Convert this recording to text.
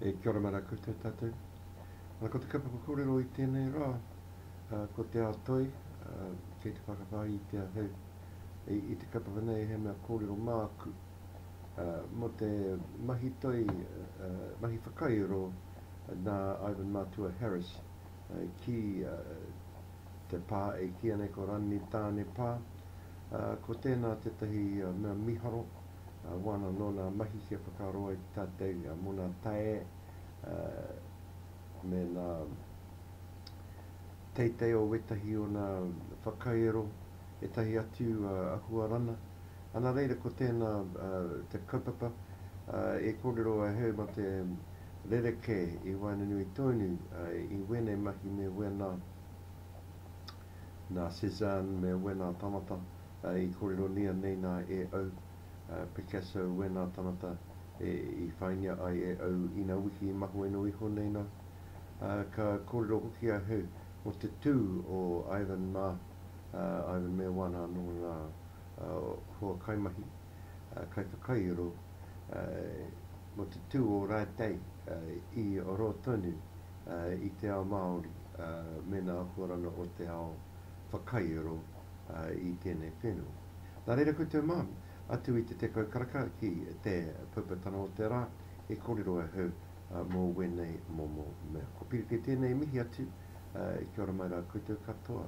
E kia ora mana koutou tatou. Ana ko te kapa kōrero i tēnei rā, uh, ko te ao toi, uh, kei te whakawhai i te ahau. I, i te kapa whana e he mea kōrero māku, uh, mo te mahi toi, uh, mahi whakairo, uh, nā Ivan Matua Harris, uh, ki uh, Te pā e kīia nei ko Ranni Tāne pā, ā, ko tēnā tētahi mea mīharo, ā, wāna nō nā mahi kia whakaaro ai tātei mō nā tae, ā, me nā teitei o wētahi o nā whakairo, ētahi atu, ā, ahuarana. Ana reira ko tēnā, ā, te kaupapa, ā, e kōrero ai hei mā te Rerekē, i waenganui tonu i wēnei mahi me wēnā, nā Cézanne me wēnā tanata i kōreronia nei nā e au, Picasso wēnā tanata i whaingia ai e au ina wiki i mahueno iho nei nā. Ka kōrero hoki ahau mō te tū o Ivan mā, Ivan me wāna anō ngā hoa kaimahi. kaiwhakairo mō te tū o Rātei i rō tonu i te ao Māori me nā akoranga o te ao whakairo i tēnei whenua. Nā reira koutou mā, atu i te tekau karaka ki te poupatanga o te rā, e kōrero ahau mō wēnei momo mea. Ko Piri kei tēnei e mihi atu, kia ora mai rā koutou katoa.